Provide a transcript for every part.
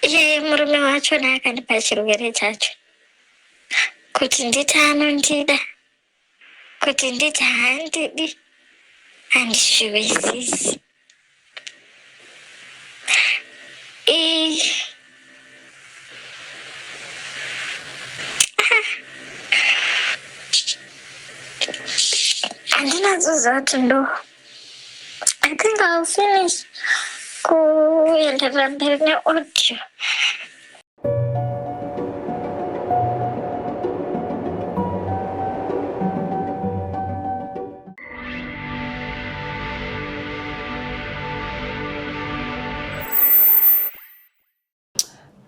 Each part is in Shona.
iye murume wacho naakandipa chirwere chacho kuti nditi anondida kuti nditi handidi handizviwisisi handina zuza kuti ndo I think I'll finish kuenderera mberi neaudio.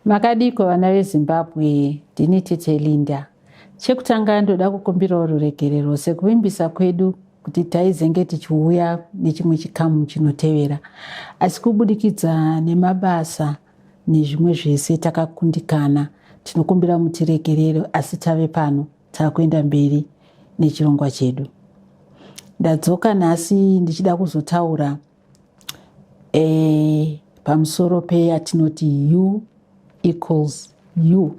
Makadiko vana veZimbabwe ndini tete Linda. Chekutanga ndoda kukumbirawo ruregerero sekuvimbisa kwedu kuti taizenge tichiuya nechimwe chikamu chinotevera asi kubudikidza nemabasa nezvimwe zvese takakundikana tinokumbira mutiregerero asi tave pano takuenda mberi nechirongwa chedu ndadzoka nhasi ndichida kuzotaura e, pamusoro peyatinoti u equals u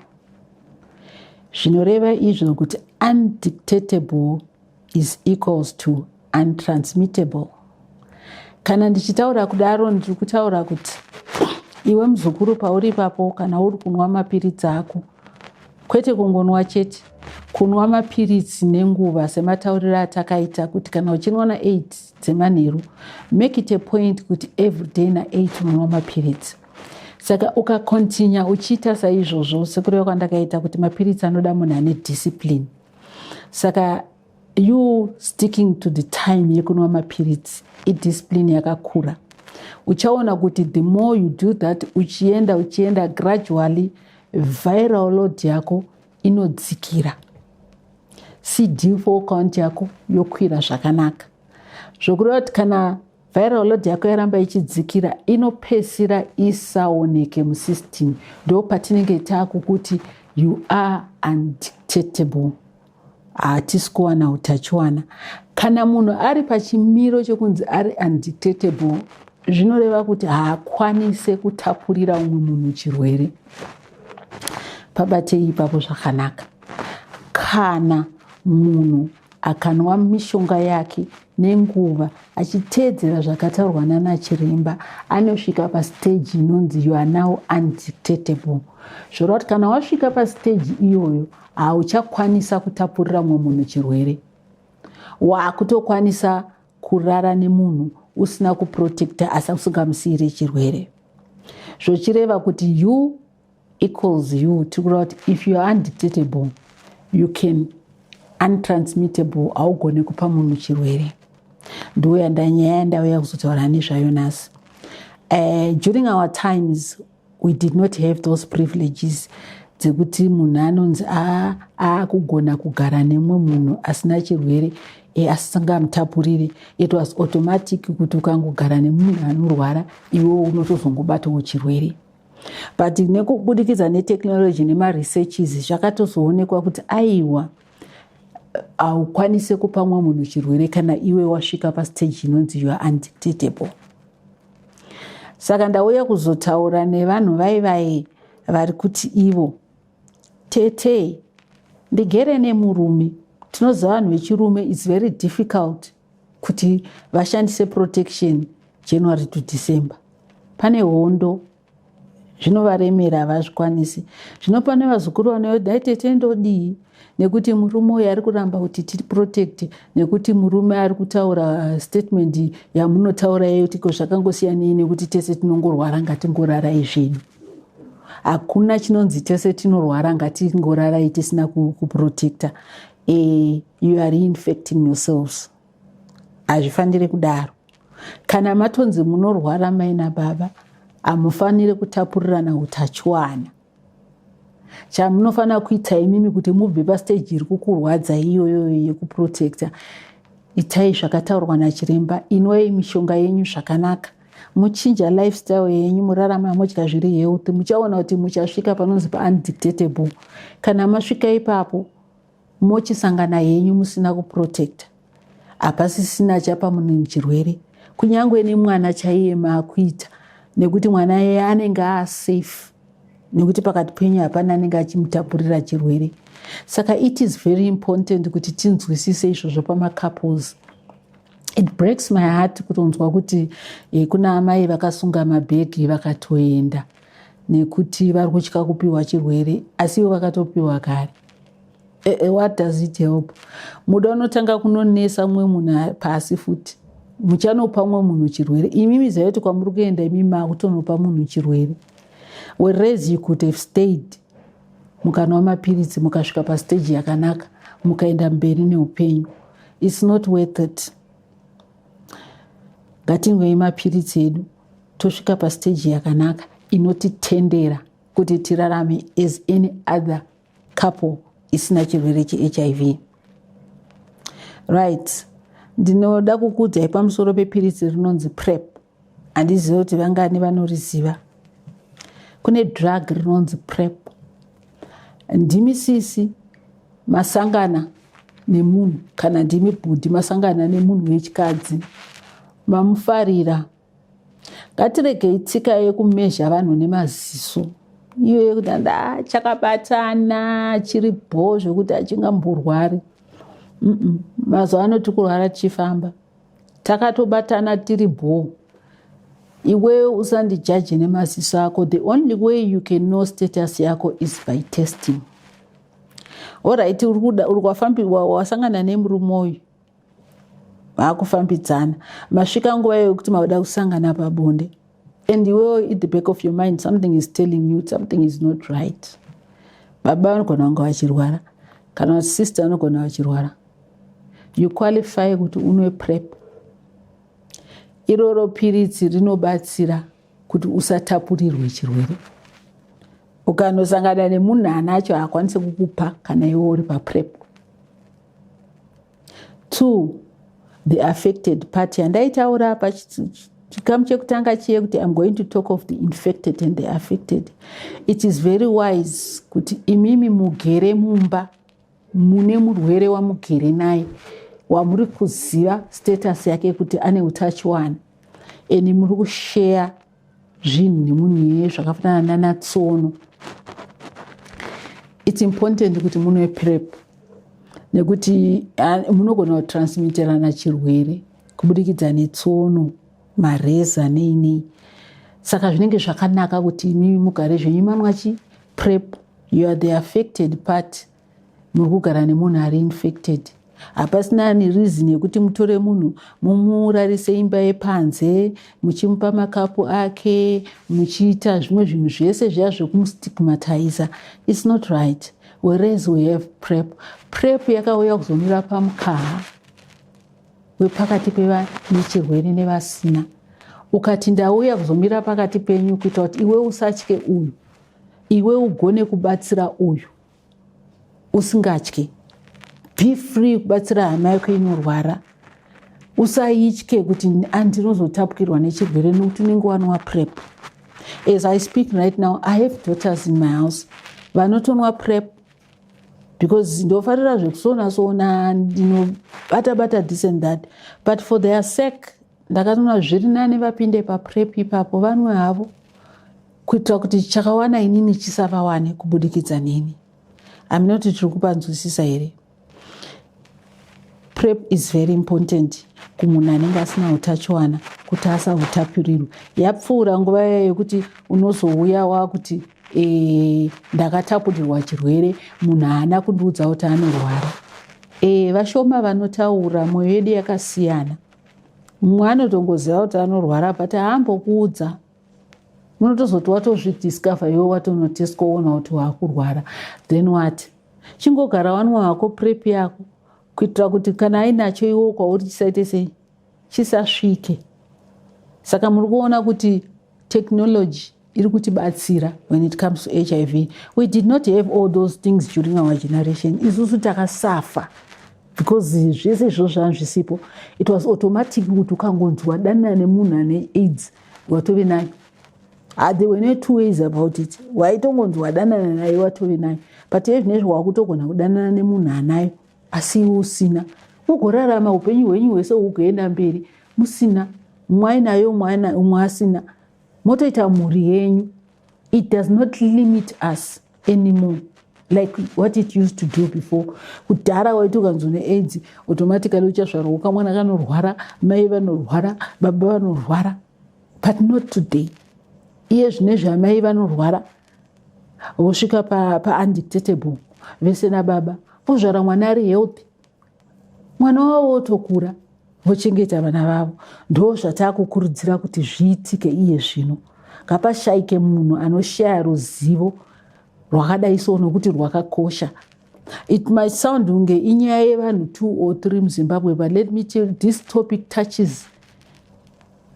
zvinoreva izvo kuti undictatable is equals to untransmittable kana ndichitaura kudaro ndiri kutaura kuti iwe muzukuru pauri ipapo kana uri kunwa mapiritsi ako kwete kungonwa chete kunwa mapiritsi nenguva sematauriro atakaita kuti kana uchinwa na8 dzemanheru make it a point kuti everyday na8 unonwa mapiritsi saka ukacontinua uchiita saizvozvo sekureva kwandakaita kuti mapiritsi anoda munhu ane discipline saka you sticking to the time yekunwa mapiritsi idiscipline yakakura uchaona kuti the more you do that uchienda uchienda gradually viral load yako inodzikira cd4 count yako yokwira zvakanaka zvokureva kuti kana viral load yako yaramba ichidzikira inopesira isaoneke musystem ndo patinenge taakukuti you are undictatable hatisi kuwana utachiwana kana munhu ari pachimiro chekunzi ari undictatable zvinoreva kuti haakwanise kutapurira umwe munhu chirwere pabatei ipapo zvakanaka kana munhu akanwa mishonga yake nenguva achiteedzera zvakataurwa nana chiremba anosvika pastage inonzi you are now undictatable zvoreva kuti kana wasvika pastage iyoyo hauchakwanisa kutapurira mumwe munhu chirwere wakutokwanisa kurara nemunhu usina kuprotecta asi usingamusiire chirwere zvochireva kuti you equals you tiri kureva kuti if youare undetectable you can untransmittable haugone kupa munhu chirwere ndiuya ndanyaya yandauya kuzotaura nezvayo nhasi uh, during our times we did not have those privileges dzekuti munhu anonzi aakugona kugara nemumwe munhu asina chirwere e, asisangamutapurire it was automatic kuti ukangogara nemunhu anorwara iwewo unotozongobatawo chirwere but nekubudikidza netechnology nemaresearches zvakatozoonekwa kuti aiwa haukwanise kupa mumwe munhu chirwere kana iwe wasvika pastage inonzi you are undictatable saka ndauya kuzotaura nevanhu vai vai vari kuti ivo tete ndigere nemurume tinoziva vanhu vechirume its very difficult kuti vashandise protection january to december pane hondo zvinovaremera havazvikwanisi zvino pane vazukuru vanoyo dai tete ndodii nekuti murume uyo ari kuramba kuti tiri protect nekuti murume ari kutaura statement yamunotaura iye kuti ko zvakangosiyanei nekuti tese tinongorwara ngatingorarai zvedu hakuna chinonzi tese tinorwara ngatingorarai tisina kuprotecta e, you are infecting yourselves hazvifanire kudaro kana matonzi munorwara mai nababa hamufanire kutapurirana utachiwana chamunofanira kuita imimi kuti mubve pasteji iri kukurwadza iyoyo yekuprotecta itai zvakataurwa nachiremba inwei mishonga yenyu zvakanaka muchinja lifestyle yenyu murarama modya zviri healthy muchaona kuti muchasvika panonzi paaundictatable kana masvika ipapo mochisangana henyu musina kuprotecta hapasisina achapa munhu chirwere kunyange nemwana chaiye maakuita nekuti mwana iye anenge aasafe nekuti pakati penyu hapana anenge achimutapurira chirwere saka it is very important kuti tinzwisise izvozvo pamacouples it breaks my heart kutonzwa kuti eh, kuna amai vakasunga mabhegi vakatoenda nekuti vari kutya kupiwa chirwere asi ivo vakatopiwa kare eh, eh, what does it help muda unotanga kunonesa mumwe munhu pasi futi muchanopa umwe munhu chirwere imimi zayoti kwamuri kuenda imimi makutonopa munhu chirwere whereas you could have stayed mukanwa mapiritsi mukasvika pasteji yakanaka mukaenda mberi neupenyu its not worth it ngatingwei mapiritsi edu tosvika pastage yakanaka inotitendera kuti tirarame as any other couple isina chirwere chehiv right ndinoda kukuudzai pamusoro pepiritsi rinonzi prep handizive kuti vangani vanoriziva kune drug rinonzi prep ndimi sisi masangana nemunhu kana ndimi bhudhi masangana nemunhu wechikadzi mamufarira ngatiregei tsika yekumezha vanhu nemaziso iyo yekuti anda chakabatana chiri bho zvekuti achingamborwari mazuva ano tikurwara tichifamba takatobatana tiri bhoo iwewe usandijaje nemaziso ako the only way you can know status yako is by testing orit wasangana nemurume uyu vaakufambidzana masvika nguva yekuti mauda kusangana pabonde and iwewo at the back of your mind something is telling you something is not right baba vanogona vanga vachirwara kana sister vanogona vachirwara you qualify kuti unwe prep iroro piritsi rinobatsira kuti usatapurirwe chirwere ukanosangana nemunhu anacho haakwanise kukupa kana iwe uri paprep two the affected party handaitaura apa chikamu chekutanga chiye kuti im going to talk of the infected and the affected it is very wise kuti imimi mugere mumba mune murwere wamugere naye wamuri kuziva status yake kuti ane utachiwana and muri kusheya zvinhu nemunhu iyeye zvakafanana nana tsono its important kuti munwe prep nekuti munogona kutransmiterana chirwere kubudikidza netsono mareza neinei saka zvinenge zvakanaka kuti imimi mugare zvenyu manwachi prep you are the affected party muri kugara nemunhu ari infected hapasina ani reason yekuti mutore munhu mumurarise imba yepanze muchimupa makapu ake muchiita zvimwe zvinhu zvese zviya zvekumustigmatiza its not right whereas we have prep prep yakauya kuzomira pamukaha wepakati pevanechirwere nevasina ukati ndauya kuzomira pakati penyu kuita kuti iwe usatye uyu iwe ugone kubatsira uyu usingatyi be free kubatsira hama yako inorwara usaitye kuti andinozotapukirwa nechirwere nokuti unenge wanwa prep as i speak right now i have daughters in my house vanotonwa prep because ndofarira zvekusona sona ndinobata bata this and that but for their sake ndakatoona zviri nani vapinde paprep ipapo vanwe havo kuitira kuti chakawana inini chisavawane kubudikidza neni aminoti tiri kupanzwisisa here prep is very important kumunhu anenge asina utachiwana kuti asahutapirirwe yapfuura nguva yaya yekuti unozouya wakuti e, ndakatapurirwa chirwere munhu haana kundiudza kuti anorwara e, vashoma vanotaura mwoyo yedu yakasiyana mumwe anotongoziva kuti anorwara but haambokuudza ah, unotozoti watozvidiscover iwe watonotestwa woona kuti waakurwara then wat chingogara wanwa wako prep yako kuitira kuti kana ainacho iwo kwauri chisaite sei chisasvike saka muri kuona kuti technology iri kutibatsira when it comes to hiv we did not have all those things during our generation isusu takasafa because zvese izvozvo zvanga zvisipo it was automatic kuti ukangonzwa danana nemunhu ane aids watove nayo ah, there were no two ways about it waitongonzi wadanana naye watove nayo but iye zvine zvawakutogona kudanana nemunhu anayo asi iwe usina ugorarama upenyu hwenyu hwese ugoenda mberi musina mwainayo umwe asina motoita mhuri yenyu it does not limit us anymore like what it used to do before kudhara waiti ukanzwa neaids automatically uchazvarwa kamwana kanorwara mai vanorwara baba vanorwara but not today iye zvine zvamai vanorwara vosvika paundictatable pa vese nababa vozvara mwana ari healthy mwana wavo wotokura vochengeta vana vavo ndo zvataakukurudzira kuti zviitike iye zvino ngapashaike munhu anoshaya ruzivo rwakadai so nokuti rwakakosha it might sound kunge inyaya yevanhu two or three muzimbabwe but let me tell this topic touches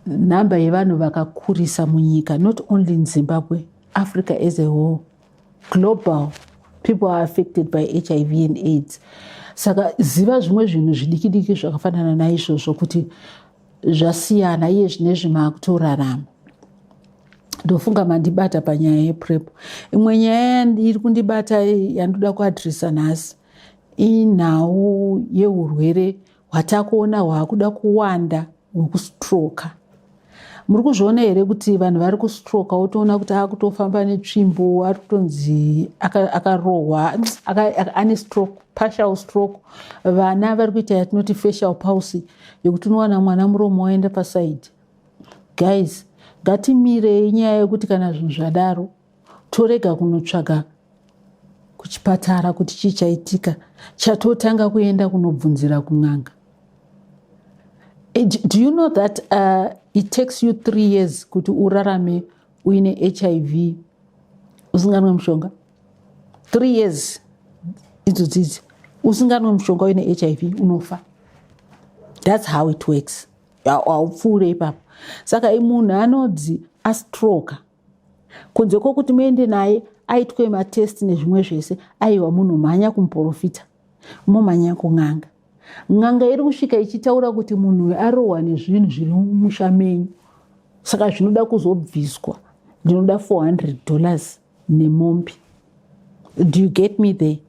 nhamba yevanhu vakakurisa munyika not only in zimbabwe africa as a whole global people are affected by hiv and aids saka ziva zvimwe zvinhu zvidikidiki zvakafanana naizvozvo kuti zvasiyana iye zvine zvimakutorarama ndofunga mandibata panyaya yeprep imwe nyaya iri kundibata yandoda kuadresa nhasi inhau yeurwere hwatakuona hwakuda kuwanda hwekustroka muri kuzviona here kuti vanhu vari kustroka wotoona kuti akutofamba netsvimbo ari kutonzi akarohwa ane stroke partial stroke vana vari kuita yatinoti facial pulse yekuti unowana mwana muromo waenda pasaidi guys ngatimirei nyaya yekuti kana zvinhu zvadaro torega kunotsvaga kuchipatara kuti chii chaitika chatotanga kuenda kunobvunzira kun'anga eh, do you know that uh, it takes you three years kuti urarame uine hiv usinganwe mushonga three years idzo dzidzi usinganwe mushonga uine hiv unofa thats how it works haupfuure ipapo saka imunhu anodzi astroke kunze kwokuti muende naye aitwe matesti nezvimwe zvese aiwa munhu mhanya kumuporofita momhanya kun'anga n'anga iri kusvika ichitaura kuti munhu uyu arohwa nezvinhu zviri mumusha menyu saka zvinoda kuzobviswa ndinoda 400 dollars nemombe do you get me there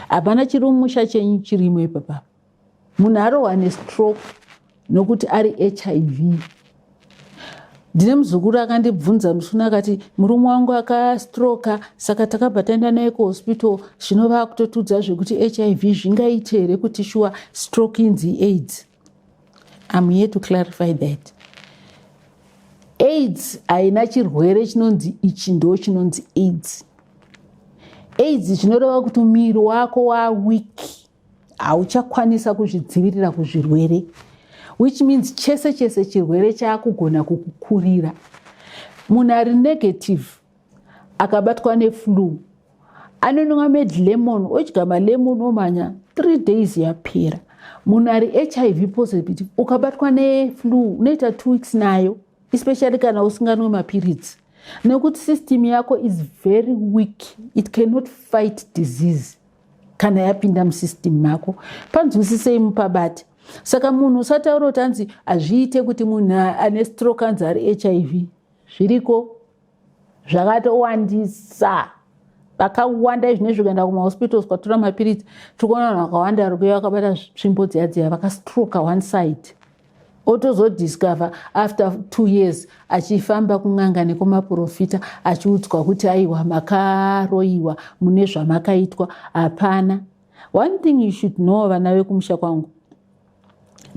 hapana chiri mumusha chenyu chirimo ipapapa munhu arohwa nestroke nokuti ari hiv ndine muzukuru akandibvunza musuna akati murume wangu akastroka saka takabva taenda naye kuhospital zvino vaakutotudza zvekuti hiv zvingaite here kuti shuwa stroke inzi aids im here to clarify that aids haina chirwere chinonzi ichi ndo chinonzi aids aids zvinoreva kuti muviri wako waweak hauchakwanisa kuzvidzivirira kuzvirwere which means chese chese chirwere chaakugona kukukurira munhu ari negative akabatwa neflue anonwa med lemon odya malemon omhanya three days yapera munhu ari hiv positive ukabatwa neflu unoita two weeks nayo especially kana usinganwe mapiritsi nekuti system yako is very weak it cannot fight disease kana yapinda musystem mako panzwisisei mupabate saka munhu usataura kuti anzi hazviite kuti munhu ane stroke anzi ari hiv zviriko zvakatowandisa vakawanda izvi nezvi kuenda kumahospitals kwatora mapiritsi tiri kuona vanhu vakawanda vari kuya vakabata tsvimbo dziya dziya vakastroka one side otozodiscover after two years achifamba kun'anga nekumaprofita achiudzwa kuti aiwa makaroyiwa mune zvamakaitwa hapana one thing you should know vana vekumusha kwangu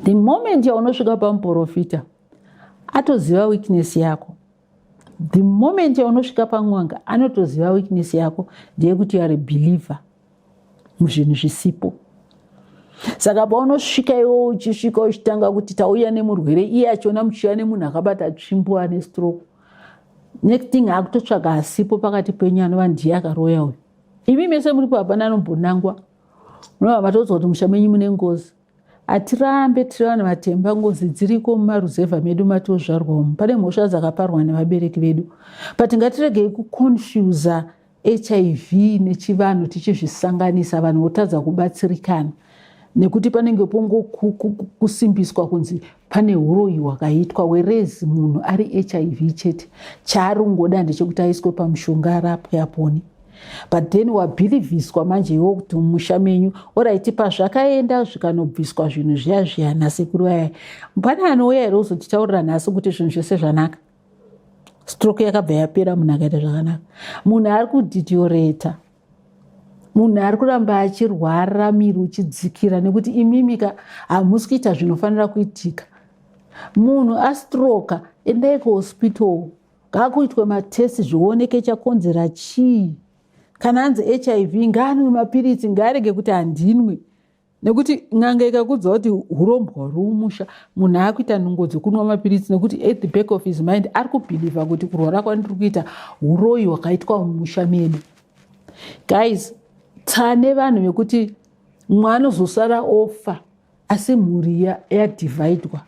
the moment yaunosvika pamuprofita atoziva weakness yako the moment yaunosvika pamwanga anotoziva weakness yako ndeyekuti youare believer muzvinhu zvisipo saka paunosvika iwo uchisvika uchitanga kuti tauya nemurwere iye achiona muchiuya nemunhu akabata tsvimbo ane stroke next thing akutotsvaga asipo pakati penyu anova ndiye akaroya uyu imi mese muripo hapana anombonangwa munova matodza kuti musha menyu mune ngozi Hatirambe tiri vanhu vatemba ngozi dziriko mumaruzevha medu matozvarwa umu. Pane mhosva dzakaparwa nevabereki vedu. But ngatiregei kuconfusa hiv nechivanhu tichizvisanganisa vanhu votadza kubatsirikana nekuti panenge pongokusimbiswa kunzi pane uroyi hwakaitwa werezi munhu ari hiv chete chaari kungoda ndechekuti aiswe pamushonga arapwe apone but then wabhilivhiswa manje iwo kuti mumusha menyu orit pazvakaenda zvikanobviswa zvinhu zviya zviya nasekuru vaya pane anouya here uzotitaurira nhasi kuti zvinhu zvese zvanaka stroke yakabva yapera munhu akaita zvakanaka munhu ari kudhitioreta munhu ari kuramba achirwara miri uchidzikira nekuti imimika hamusi kuita zvinofanira kuitika munhu astroka endai kuhospital ngaakuitwe matesti zvioneke chakonzera chii kana anzi hiv ngaanwe mapiritsi ngaarege kuti handinwe nekuti n'anga ikakudza kuti urombwa huri mumusha munhu akuita nungo dzekunwa mapiritsi nekuti at the back of his mind ari kubhilivha kuti kurwara kwandiri kuita uroyi hwakaitwa mumusha medu guys tsane vanhu vekuti mwana ozosara ofa asi mhuri yadhivhaidwa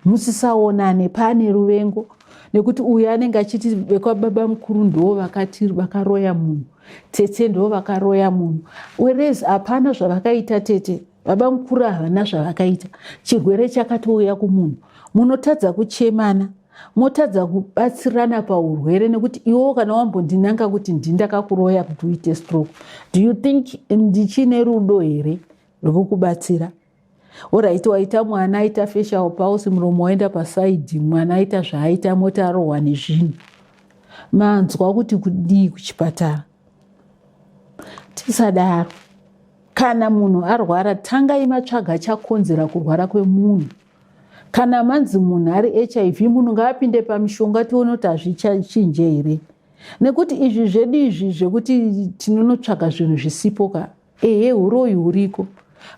musisaonane paane ruvengo nekuti uyu anenge achiti vekwababa mukuru ndoo vakati vakaroya munhu tete ndoo vakaroya munhu werez hapana zvavakaita tete baba mukuru havana zvavakaita chirwere chakatouya kumunhu munotadza kuchemana motadza kubatsirana paurwere nekuti iwewo kana wambondinanga kuti ndindakakuroya kuti uite stroke do you think ndichine rudo here rwekukubatsira Horaiti waita mwana aita fesha upausi muromo waenda pasaidhi mwana aita zvaaita mota arohwa nezvinhu manzwa kuti kudii kuchipatara tisadaro kana munhu arwara tangai matsvaga chakonzera kurwara kwemunhu kana manzi munhu ari hiv munhu ngaapinde pamishonga tione kuti hazvichinje here nekuti izvi zvedu izvi zvekuti tinonotsvaga zvinhu zvisipo ka ehe uroyi huriko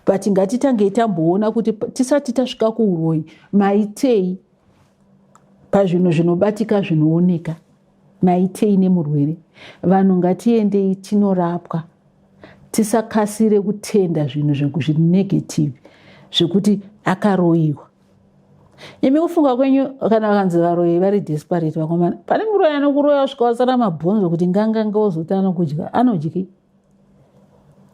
but ngatitangei tamboona kuti tisati tasvika kuuroyi maitei pazvinhu zvinobatika zvinooneka maitei nemurwere vanhu ngatiendei tinorapwa tisakasire kutenda zvinhu zviri negative zvekuti akaroyiwa imi kufunga kwenyu kana vakanzi varoyi vari desperate vakomana pane muroyi anokuroya kusvika wasara mabhonzo kuti ngangange wozotana kudya anodyi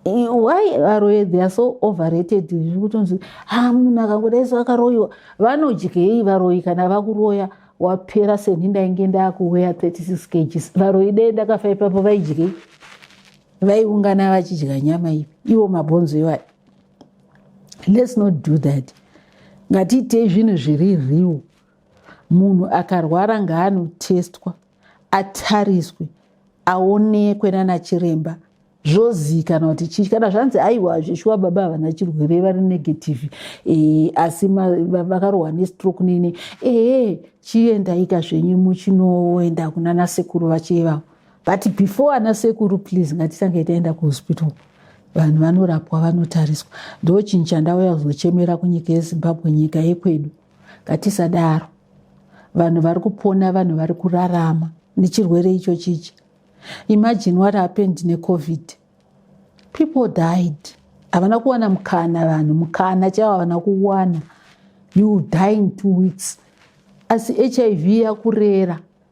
why varoyi they are so overrated zviri kutonzi ha ah, munhu akangodai so akaroyiwa vanodyei varoyi kana vakuroya wapera seni ndainge ndakuweya 36 kgs varoyi dei ndakafa ipapo vaidyei vaiungana vachidya nyama ivi ivo mabhonzo iwayo let's not do that ngatiitei zvinhu zviri riwo munhu akarwara ngaanotestwa atariswe aonekwe nana chiremba zvozivikanwa kuti chii kana zvanzi aiwa zveshuwa baba havana chirwere vari negative e, asi vakarohwa nestroke nini ee chiendaika zvenyu muchinoenda kunana sekuru vachivavo but before ana sekuru please ngatitange taenda kuhospital vanhu vanorapwa vanotariswa ndochinhu chandauya kuzochemera kunyika yezimbabwe nyika yekwedu ngatisadaro vanhu vari kupona vanhu vari kurarama nechirwere icho chichi imagine what happened necovid people died havana kuwana mukana vanhu mukana chaivo havana kuwana you die in two weeks asi hiv yakurera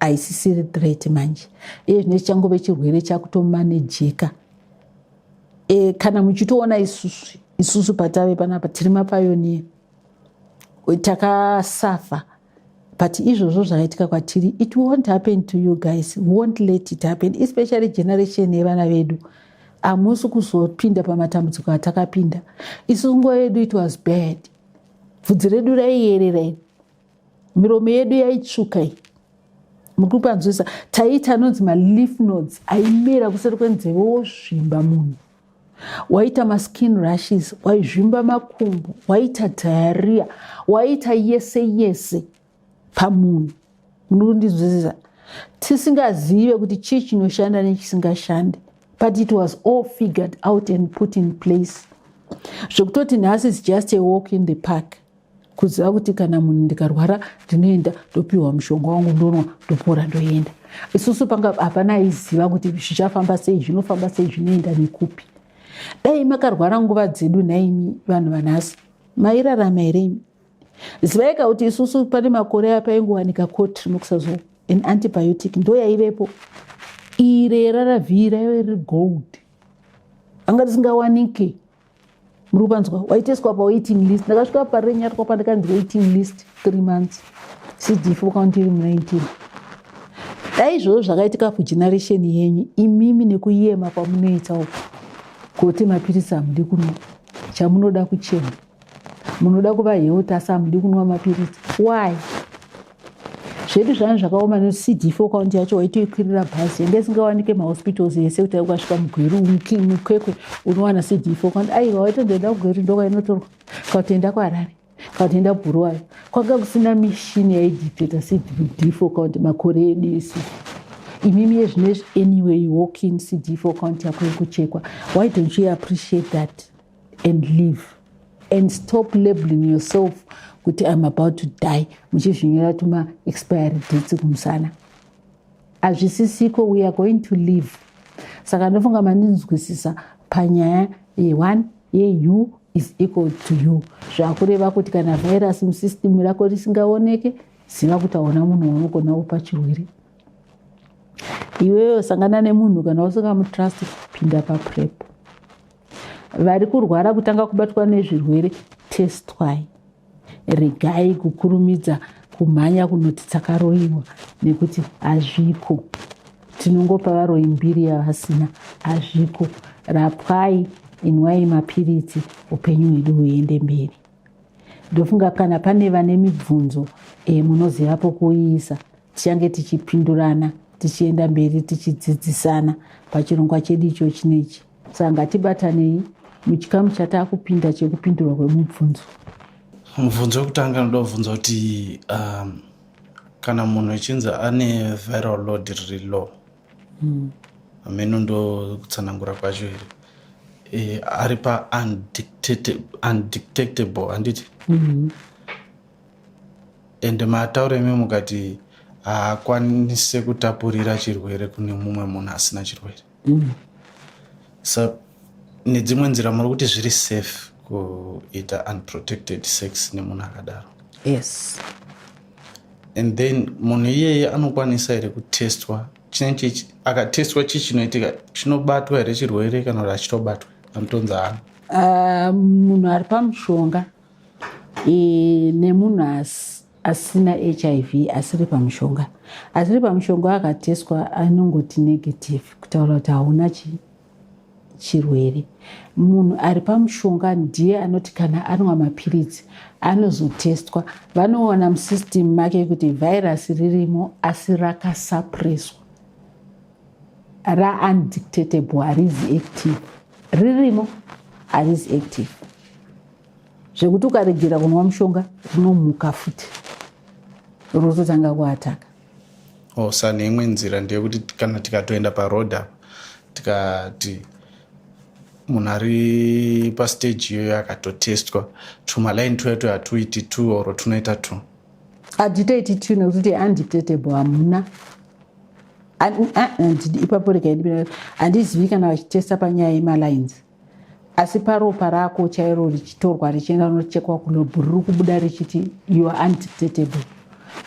haisisiri threat manje iye zvine chichangove chirwere chakutomanejeka e, kana muchitoona isusu isusu patave panapa tiri mapayoniya takasafa but izvozvo zvakaitika kwatiri it won't happen to you guys won't let it happen especially generation yevana vedu hamusi kuzopinda pamatambudziko atakapinda isusu nguva yedu it was bad bvudzi redu raiyerera iri miromo yedu yaitsvuka iyi muri kukwanzwisa taiita anonzi maleaf nodes aimera kuseri kwenzeve wozvimba munhu waita maskin rushes waizvimba makumbo waita diarrhea waita yese yese pamunhu muri kundinzwisisa tisingazive kuti chii chinoshanda nechisingashandi but it was all figured out and put in place zvekutoti nhasi is just a walk in the park kuziva kuti kana munhu ndikarwara ndinoenda ndopiwa mushonga wangu ndonwa ndopora ndoenda isusu panga hapana aiziva kuti zvichafamba sei zvinofamba sei zvinoenda nekupi dai makarwara nguva dzedu nhaimi vanhu vanhasi mairarama here imi zivaika kuti isusu pane makore aya paingowanika cotrimoxazol an antibiotic ndo yaivepo ire raravhii raive riri gold anga risingawanike muri kupanzwa waiteswa pawaiting list ndakasvika parenyatwa pandakanzi waiting list three months cdf ukaunti iri mu19 dai izvozvo zvakaitika kugeneration yenyu imimi nekuyema kwamunoita uku kuti mapiritsi hamudi kunwa chamunoda kuchema munoda kuva health asi hamudi kunwa mapiritsi why zvedu zvanhu zvakaoma necd fo kaunti yacho waitoikwirira bhazi yanga isingawanike mahospitals ese kuti ukasvika mugweru mukwekwe unowana cd fo kaunti aiwa waitondoenda kugweru ndoka inotorwa kautoenda kuharare kautoenda bhuruwayo kwanga kusina mishini yaidictata cd fo kaunti makore edu isi imimi yezvinezvi anyway walking cd fo kaunti yako yekuchekwa why don't you appreciate that and live and stop labeling yourself kuti im about to die muchizvinyora tuma expiry dates kumusana hazvisisiko we are going to live saka ndofunga mandinzwisisa panyaya yeone yeu is equal to you zvakureva kuti kana virus musystem rako risingaoneke ziva kuti aona munhu waunogona kupa chirwere iweyo sangana nemunhu kana usingamutrust pinda paprep vari kurwara kutanga kubatwa nezvirwere testwai regai kukurumidza kumhanya kunoti takaroyiwa nekuti hazviko tinongopa varoyi mbiri yavasina hazviko rapwai inwai mapiritsi upenyu hwedu huende mberi ndofunga kana pane vane mibvunzo e, munoziva pokuiisa tichange tichipindurana tichienda mberi tichidzidzisana pachirongwa chedu icho chinechi saka ngatibatanei muchikamu chataakupinda chekupindurwa kwemubvunzo mubvunzo wekutanga anoda kubvunza kuti um, kana munhu echinzi ane viral load riri low hmm. hameno ndokutsanangura kwacho here e, ari paundetectable handiti mm -hmm. and mataura imi mukati haakwanise kutapurira chirwere kune mumwe munhu asina chirwere mm. so nedzimwe nzira muri kuti zviri safe kuita unprotected sex nemunhu akadaro yes and then munhu iyeye anokwanisa here kutestwa chinenge akatestwa chii chinoitika chinobatwa here chirwere kana kuti achitobatwa anotonzi hana ah, munhu ari pamushonga e, nemunhu asi asina hiv asiri pamushonga asiri pamushonga akateswa anongoti negative kutaura kuti hauna chii chirwere munhu ari pamushonga ndiye anoti kana anwa mapiritsi anozotestwa vanoona musystem make kuti vhairasi ririmo asi rakasapreswa raundictatable harizi active ririmo harizi active zvekuti ukaregera kunwa mushonga rinomuka futi rototanga kuataka oh, sa neimwe nzira ndeyekuti kana tikatoenda paroad apa tikati munhu ari pastaji iyoyo akatotestwa tumalaini tuya tuya tuiti t or tunoita t hatitoiti t nekuti undetectable hamuna ipapo rega handizivi kana vachitesta panyaya yemalines asi paropa rako chairo richitorwa richienda rinochekwa kulobhu riri kubuda richiti you are undetectable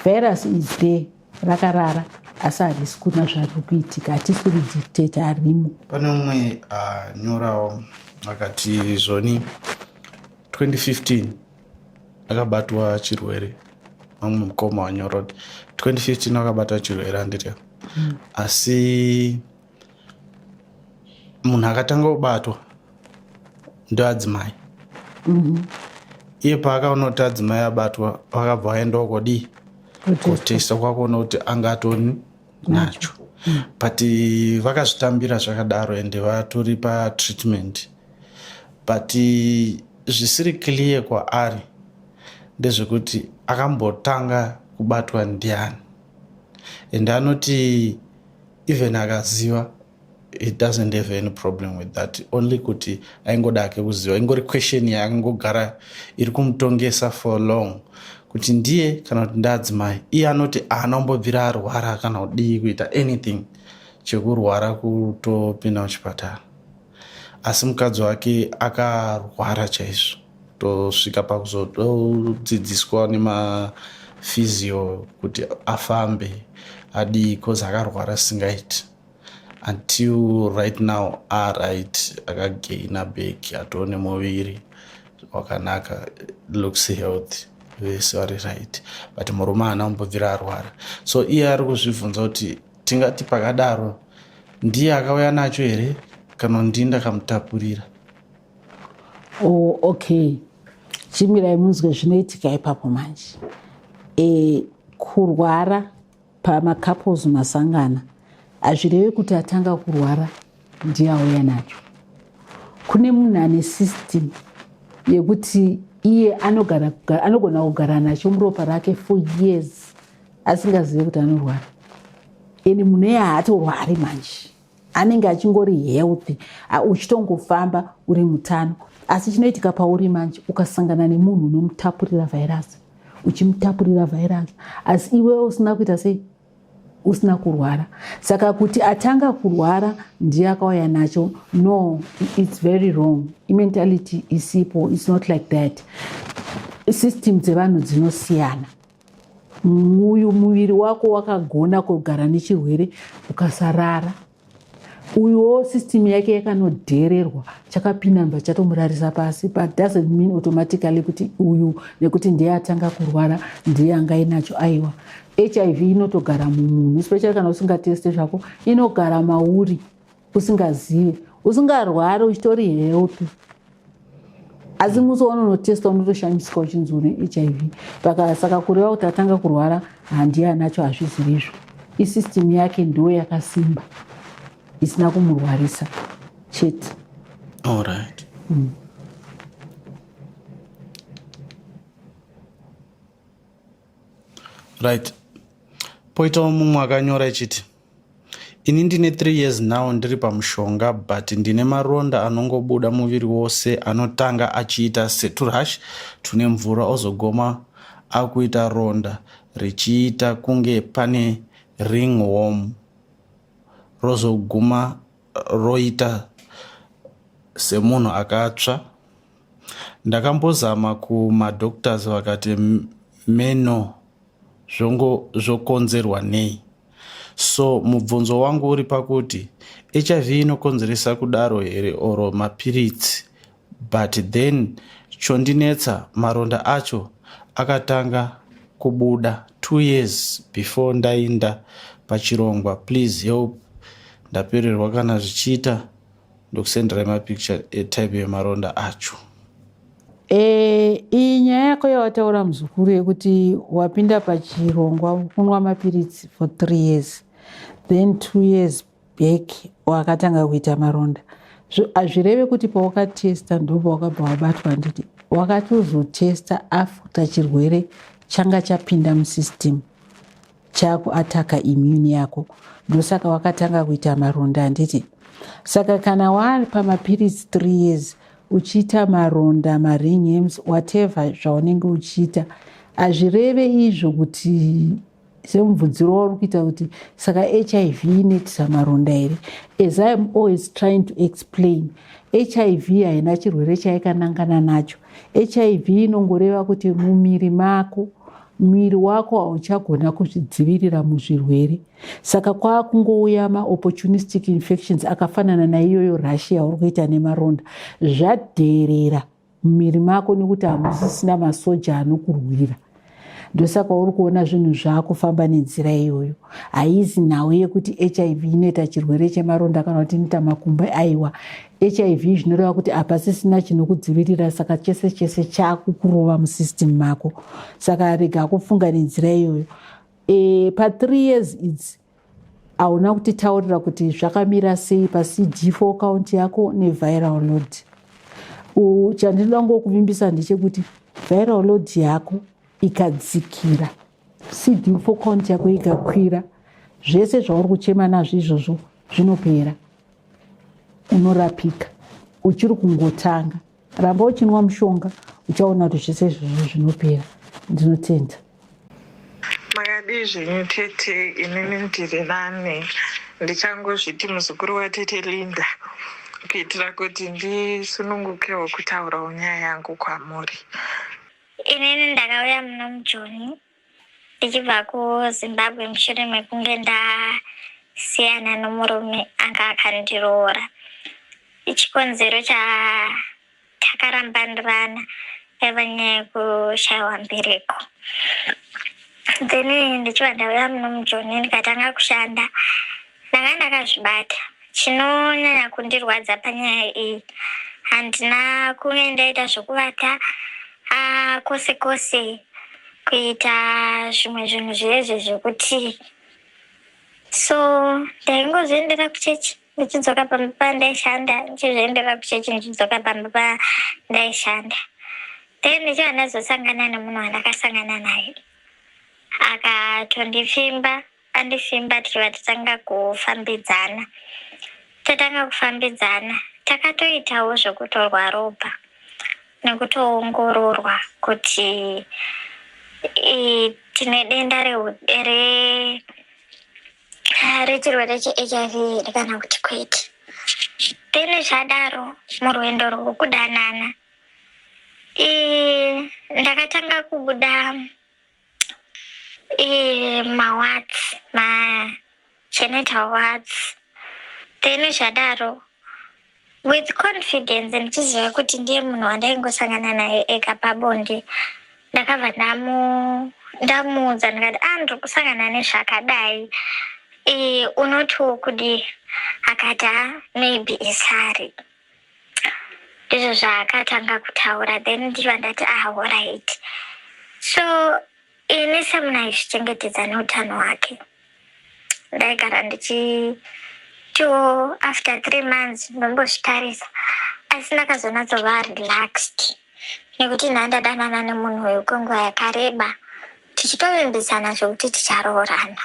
virus is there rakarara asi harisi kuna zvari kuitika hatisi kuri dictate harimo pane umwe anyorawo ah, uh, akati zvoni 2015 akabatwa chirwere vamwe mukoma wanyora kuti 2015 akabatwa chirwere anditya mm. asi munhu akatanga kubatwa ndoadzimai mhm. iye paakaona kuti adzimai abatwa pakabva aendawo kodii kotesta kwakuona kuti anga atoni nacho mhm. but vakazvitambira zvakadaro ende vatori patreatment but zvisiri clear kwaari ndezvekuti akambotanga kubatwa ndiani ende anoti even akaziva he doesn't have any problem with that only kuti aingoda ake kuziva ingori question yaakangogara iri kumutongesa for long kuti ndiye kana kuti ndaadzimai iye anoti aana kumbobvira arwara kana kudii kuita anything chekurwara kutopinda muchipatara asi mukadzi wake akarwara chaizvo tosvika pakuzodzidziswa nemafizio kuti afambe adii cause akarwara singaiti until right now aright akagaina bek atoo nemuviri wakanaka looks healthy vese vari right but murume haana kumbobvira arwara so iye ari kuzvibvunza kuti tingati pakadaro ndiye akauya nacho here kana ndii ndakamutapurira Oh, okay. Chimirai munzwe zvinoitika ipapo manje. E, kurwara pamacouples masangana hazvireve kuti atanga kurwara ndiye auya nacho. Kune munhu ane system yekuti iye anogara, anogona kugara nacho muropa rake for years asingazive kuti anorwara. Eni munhu eye haatorwari manje. anenge achingori healthy uchitongofamba uri mutano asi chinoitika pauri manje ukasangana nemunhu unomutapurira vhairasi uchimutapurira vhairasi asi iwewe usina kuita sei usina kurwara saka kuti atanga kurwara ndiye akauya nacho no its very wrong imentality isipo its not like that system dzevanhu dzinosiyana uyu muviri wako wakagona kugara nechirwere ukasarara uyuwo system yake yakanodhererwa chakapinamba chatomurarisa pasi but doesn't mean automatically kuti uyu nekuti ndiye atanga kurwara ndiye angainacho aiwa hiv inotogara mumunhu especially kana usingateste zvako inogara mauri usingazive usingarwari uchitori healthy asi musi waunonotesta unotoshamisiswa uchinzi une hiv pakasaka kureva kuti atanga kurwara handiye anacho hazvizivi izvo isystem yake ndiyo yakasimba isina kumurwarisa chete allright mm. right poitawo mumwe akanyora ichiti Ini ndine 3 years now ndiri pamushonga but ndine maronda anongobuda muviri wose anotanga achiita seturash tune mvura ozogoma akuita ronda richiita kunge pane ring worm rozoguma roita semunhu akatsva ndakambozama kumadoctors vakati meno zvongo zvokonzerwa nei So mubvunzo wangu uri pakuti hiv inokonzeresa kudaro here or mapiritsi but then chondinetsa maronda acho akatanga kubuda two years before ndainda pachirongwa please help ndapererwa kana zvichiita ndokusenderai mapicture etype yemaronda acho e, iyi nyaya yako yawataura muzukuru yekuti wapinda pachirongwa kunwa mapiritsi for three years then two years back wakatanga kuita maronda hazvireve kuti pawakatesta ndo pawakabva wabatwa handiti wakatozotesta after chirwere changa chapinda musystem chaku ataka immune yako ndosaka wakatanga kuita maronda handiti saka kana wari pamapiritsi th years uchiita maronda maringhems whatever zvaunenge uchiita hazvireve izvo kuti semubvunziro wauri kuita kuti saka hiv inoitisa maronda here as iam always trying to explain hiv haina chirwere chaikanangana nacho hiv inongoreva kuti mumiri mako muviri wako hauchagona kuzvidzivirira muzvirwere saka kwaakungouya maopportunistic infections akafanana naiyoyo rashi yauri kuita nemaronda zvadherera mumiri mako nekuti hamusisina masoja anokurwira ndosaka uri kuona zvinhu zvaakufamba nenzira iyoyo haizi nhau yekuti hiv inoita chirwere chemaronda kana kuti inoita makumba aiwa hiv zvinoreva kuti hapasisina chinokudzivirira saka chese chese chakukurova musystem mako saka rega kufunga nenzira iyoyo e, pathree years idzi hauna kutitaurira kuti zvakamira sei pacd for account yako neviral load chandinoda ngokuvimbisa ndechekuti viral load yako ikadzikira cd for account yako ikakwira zvese zvauri kuchema nazvo izvozvo zvinopera unorapika uchiri kungotanga ramba uchinwa mushonga uchaona kuti zvese izvozvo zvinopera ndinotenda makadii zvenyu tete inini ndiri nane ndichangozviti muzukuru watete linda kuitira kuti ndisunungukewo kutaurawo nyaya yangu kwamuri inini ndakauya muno mujoni ndichibva kuzimbabwe mushure mekunge ndasiyana nomurume anga akandiroora ichikonzero chatakarambanirana yaiva nyaya yekushaiwa mbereko then ndichibva ndauya muno mujoni ndikatanga kushanda Ndanga ndakazvibata. Chinonyanya kundirwadza panyaya iyi handina kunge ndaita zvokuvata ah, kwose kwose kuita zvimwe zvinhu zvezve zvekuti so ndaingozoendera kuchechi ndichidzoka pamba pandaishanda ndichizviendera kuchechi ndichidzoka pamba pandaishanda then ndichiva ndazosangana nemunhu wandakasangana naye akatondipfimba Andi Simba tichibva tatanga kufambidzana. Tatanga kufambidzana takatoitawo zvekutorwa ropa nekutoongororwa kuti tine denda rechirwere cheHIV here kana kuti kwete. Then zvadaro murwendo rwekudanana ndakatanga kubuda mawards magenital wards then zvadaro with confidence ndichiziva kuti ndiye munhu wandaingosangana naye ega pabonde ndakabva ndamuudza ndikati a ah, ndiri kusangana nezvakadai e, unoti wokudii akati ha ah, maybe isari ndizvo zvaakatanga kutaura then ndichiva ndati ah horit so ini semuna aizvichengetedza neutano hwake ndaigara ndichitiwo after three months ndombozvitarisa asi ndakazonatsova relaxed nekuti nhaa ndadanana nemunhu uyu kwenguva yakareba tichitovimbisana zvekuti ticharoorana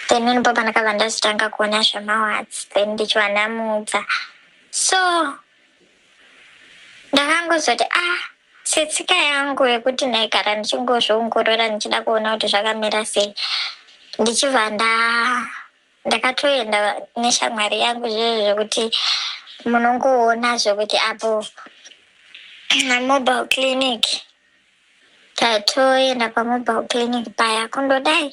then vanhu baba ndakabva ndazotanga kuona zvemawards then ndichiva ndamudza so ndakangozoti ah setsika yangu yekuti ndaigara ndichingozviongorora ndichida kuona kuti zvakamira sei ndichibva nda ndakatoenda neshamwari yangu zvizvo zvekuti munongoona zvekuti apo mobile clinic Tatoenda pamobile clinic paya kundodai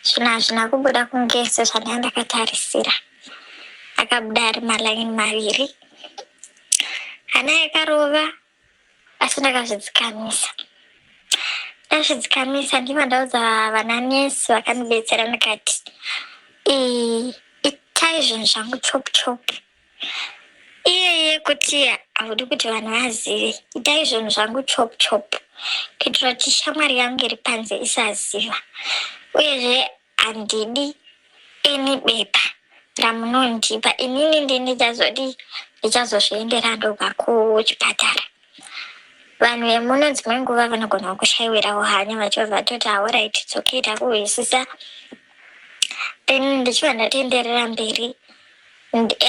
zvinhu hazvina kubuda kunge sezvandanga ndakatarisira. Akabuda ari malaini maviri hana yakarova asi ndakazvidzikamisa ndazvidzikamisa ndivo ndaudza vana nesi vakandibetsera ndikati itai zvinhu zvangu chop chop iyeye kuti haudi kuti vanhu vazive itai zvinhu zvangu chop chop kuitira kuti shamwari yangu iri panze isaziva uyezve handidi ini bepa ramunondipa inini ndi ndichazodi ndichazozviendera ndoga kuchipatara vanhu vemuno dzimwe nguva vanogona kushaiwirawo hanya vachibva vatoti haoraiti dzokita kuhwisisa then ndichibva ndatoenderera mberi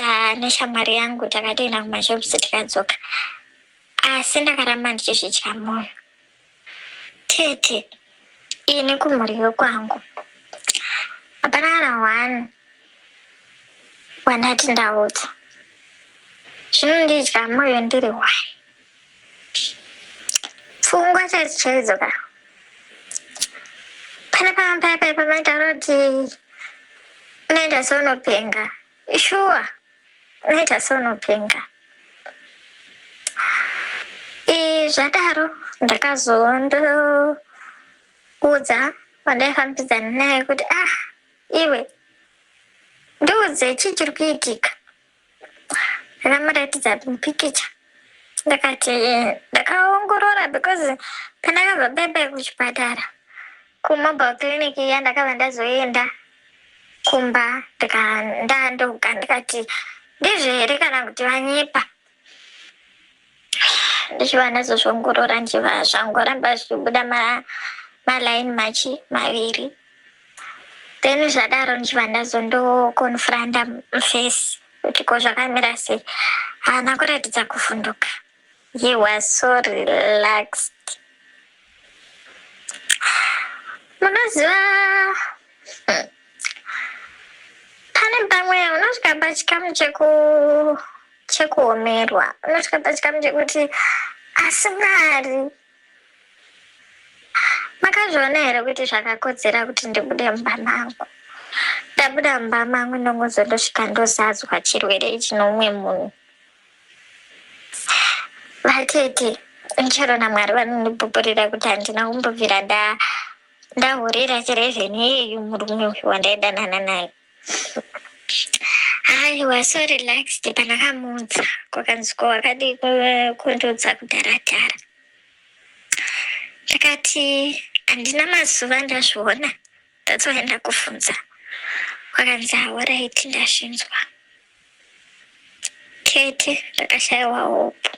ah, neshamwari yangu takatoenda kumashops tikadzoka asi ndakaramba ndichizvidya mwoyo tete ini kumhuri yokwangu hapana kana one wandati ndaudza zvinondidya mwoyo ndiri one Pfungwa chaidzo chaidzo ka. Pana pamwe paya paya pamaitaura kuti unoita seunopenga. Shuwa. Unoita seunopenga. Eh, zvadaro ndakazondoudza vandaifambidzana naye kuti ah iwe ndiudze chii chiri kuitika ndakamuratidza pikicha ndakati eh, ndakaongorora because pandakabva bebe kuchipatara kumobile clinic iya ndakabva ndazoenda kumba ndandoga ndikati ndizvo here kana kuti vanyepa ndichiva nadzo zvoongorora ndichiva zvangoramba zvichibuda malaini machi maviri then zvadaro ndichiva ndazo ndokonfranda mufesi kuti ko zvakamira sei haana kuratidza kuvhunduka he was so relaxed munoziva hmm, pane pamwe unosvika pachikamu cheku chekuomerwa unotya pachikamu chekuti asi mwari makazviona here kuti zvakakodzera kuti ndibude mumba mangu ndabuda mumba mangu ndongonzo ndosvika ndozadzwa chirwere ichi noumwe munhu vatete chero namwari vanondibhubhurira kuti handina kumbobvira ndahurira chirevheni iyeyu murume uyu wandaidanana naye Hi, we're so relaxed. Panakamudza kwakanziko wakadi kundudza kudhara dhara. Ndakati handina mazuva ndazviona. That's why ndakufunza. Kwakanzi all right ndazvinzwa. Katie, ndakashaiwa hope.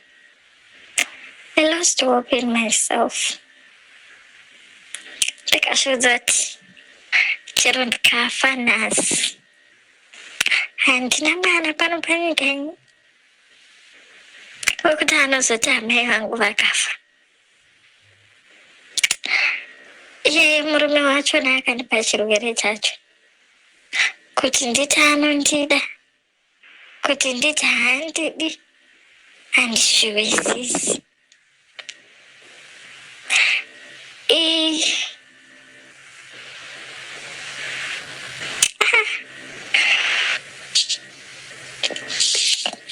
I lost hope in myself. Ndikasviudza kuti chero ndikafa nhasi handina mwana pano panyika ini wekuti anozoti amai vangu vakafa iye murume wacho naakandipa chirwere chacho kuti nditi anondida kuti nditi handidi handizviwisisi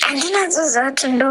handina zuza kuti ndo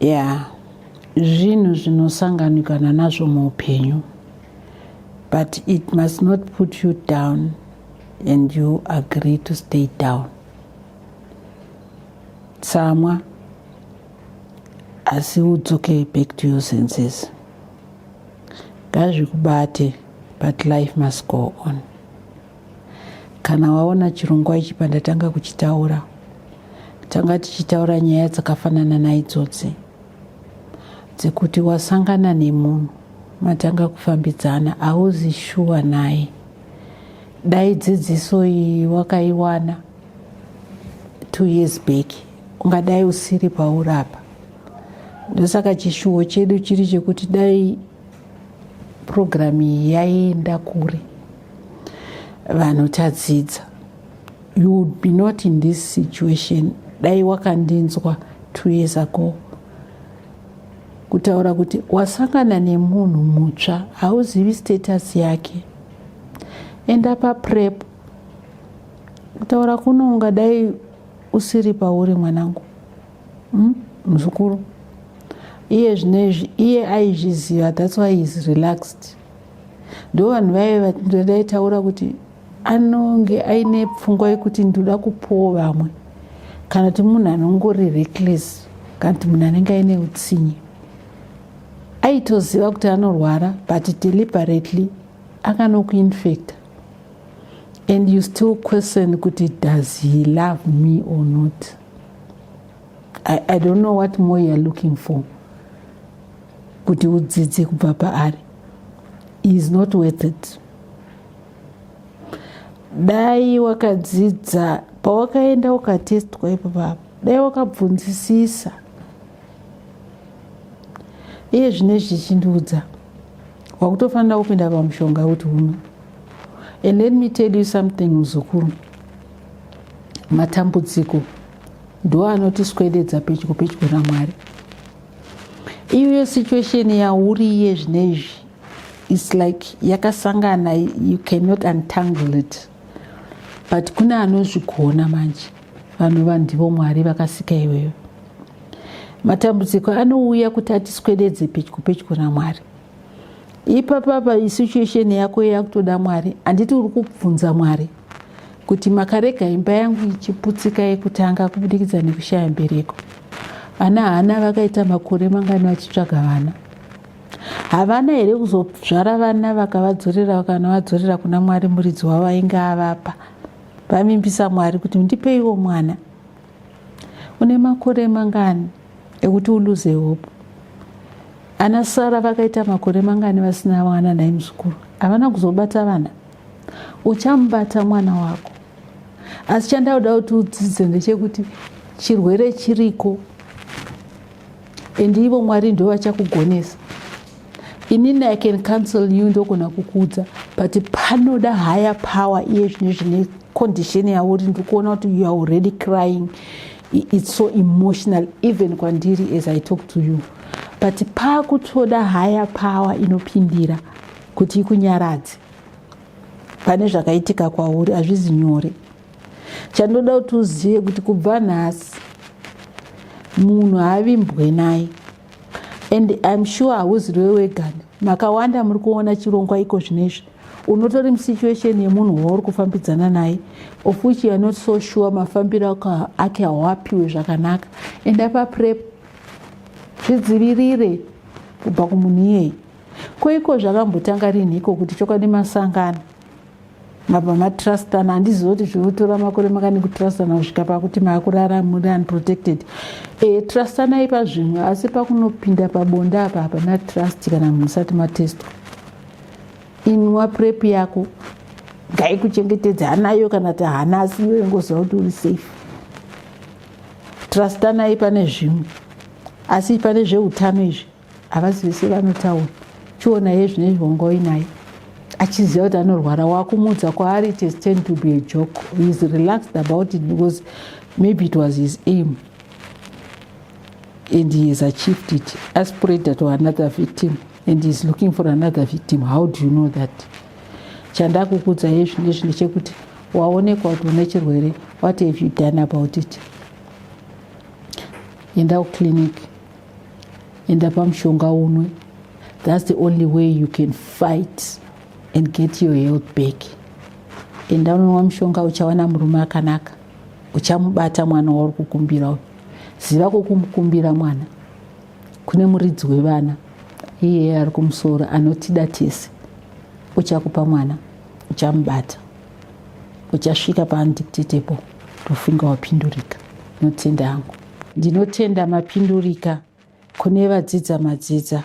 yeah zvinhu zvinosanganikana nazvo muupenyu but it must not put you down and you agree to stay down tsamwa asi udzoke back to your senses ngazvikubate but life must go on Kana waona chirongwa ichi pandatanga kuchitaura, tanga tichitaura nyaya dzakafanana naidzodzi dzekuti wasangana nemunhu matanga kufambidzana hauzi shuwa naye dai dzidziso iyi wakaiwana two years back ungadai usiri paurapa ndosaka chishuwo chedu chiri chekuti dai Purogiramu iyi yaienda kure, vanhu tadzidza. You would be not in this situation dai wakandinzwa two years ago kutaura kuti wasangana nemunhu mutsva hauzivi status yake enda paprep kutaura kuno ungadai usiri pauri mwanangu mm, muzukuru iye zvinezvi iye aizviziva thats why is relaxed ndo vanhu vaive vatindodaitaura kuti anonge aine pfungwa yekuti ndoda kupowo vamwe kana kuti munhu anongori reckless kana kuti munhu anenge aine utsinye aitoziva kuti anorwara but deliberately akanokuinfecta and you still question kuti does he love me or not I, I don't know what more you're looking for kuti udzidze kubva paari is not worth it dai wakadzidza pawakaenda ukatestwa ipo papa dai wakabvunzisisa iye zvine zvichindiudza wakutofanira kupinda pamushonga kuti uno and let me tell you something muzukuru matambudziko ndiwo anotiswededza pedyo pedyo namwari iyoyo situation yauriye zvine izvi its like yakasangana you cannot untangle it but kune anozvigona manje vanova ndivo mwari vakasika iweyo matambudziko anouya kuti atiswededze pedyo pedyo namwari ipapapa isituation yako yakutoda mwari handiti uri kubvunza mwari kuti makarega imba yangu ichiputsika yekutanga kubudikidza nekushaya mbereko vana hana vakaita makore mangani vachitsvaga vana havana here kuzozvara vana vakavadzorera vakanavadzorera kuna mwari muridzi wavo ainge avapa vavimbisa mwari kuti ndipeiwo mwana une makore mangani ekuti uluze hope ana sara vakaita makore mangani vasina vana naimuzukuru havana kuzobata vana uchamubata mwana wako asi chandauda kuti udzidze ndechekuti chirwere chiriko and ivo mwari ndo vachakugonesa inini i can counsel you ndogona kukuudza but panoda higher power iye zvine zvine condition yavo uri ndiri kuona kuti you are already crying it's so emotional even kwandiri as i talk to you but paakutoda higher power inopindira kuti ikunyaradze pane zvakaitika kwauri hazvizi nyore chandoda kuti uzive kuti kubva nhasi munhu haavimbwe naye and im sure hauzi rwe wegani makawanda muri kuona chirongwa iko zvinezvi unotori musituation yemunhu wauri kufambidzana naye of which youare not so sure mafambiro ake hawapiwe zvakanaka enda paprep zvidzivirire kubva kumunhu iyeyi ko iko zvakambotanga rinhiko kuti chokwadi masangano mabva matrustana handizivi kuti zvinotora makore makani kutrustana kusvika pakuti maakurara muri unprotected e, trustanai pazvimwe asi pakunopinda pabonde apa hapana trust kana munhu usati matestwa inwa prep yako ngaikuchengetedza hanayo kana ti hana asi iwe ngoziva kuti uri safe trustanai pane zvimwe asi pane zveutano izvi havazivi sevanotaura chiona ye zvine zvonga uinaye achiziva kuti anorwara wakumudza kwaari it is tend to be a joke he is relaxed about it because maybe it was his aim and he has achieved it aspreader to another victim and he is looking for another victim how do you know that chandakukudza ye zvine zvine chekuti waonekwa kuti une chirwere what have you done about it enda kuclinic enda pamushonga unwe that's the only way you can fight and get your health back enda unonwa mushonga uchawana murume akanaka uchamubata mwana wauri kukumbira uyu ziva kwokumukumbira mwana kune muridzi wevana iye ari kumusoro anotida tese uchakupa mwana uchamubata uchasvika paundictatable ndofunga wapindurika notenda hangu Ndinotenda mapindurika kune vadzidza madzidza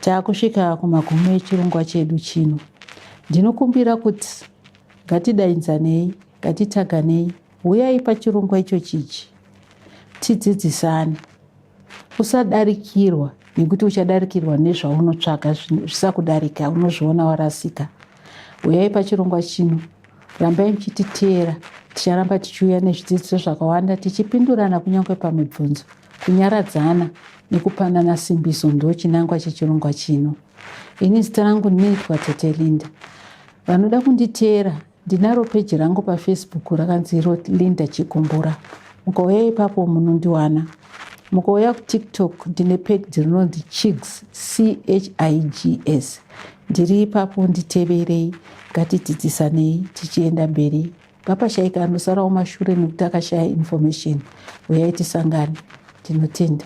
taakusvika kumagumo echirongwa chedu chino. Ndinokumbira kuti ngatidainzanei, ngatitaganei, huyai pachirongwa icho chichi tidzidzisane. Usadarikirwa nekuti uchadarikirwa nezvaunotsvaga zvisakudarika unozviona warasika. Uyai pachirongwa chino, rambai muchititeera. Ticharamba tichiuya nezvidzidziso zvakawanda tichipindurana kunyange pamibvunzo. Kunyaradzana nekupanana simbiso ndo chinangwa chechirongwa chino. Ini zita rangu ndinoitwa Tete Linda. Vanoda kunditeera ndinaro peji rangu pafacebook rakanzi Linda Chigumbura. Mukauyai ipapo munondiwana. Mukauya kuTikTok ndine page rinonzi Chigs CHIGS. Ndiri ipapo nditeverei ngatidzidzisanei tichienda mberi ngapashaika anosarawo mashure nekuti akashaya information uyai tisangane tinotenda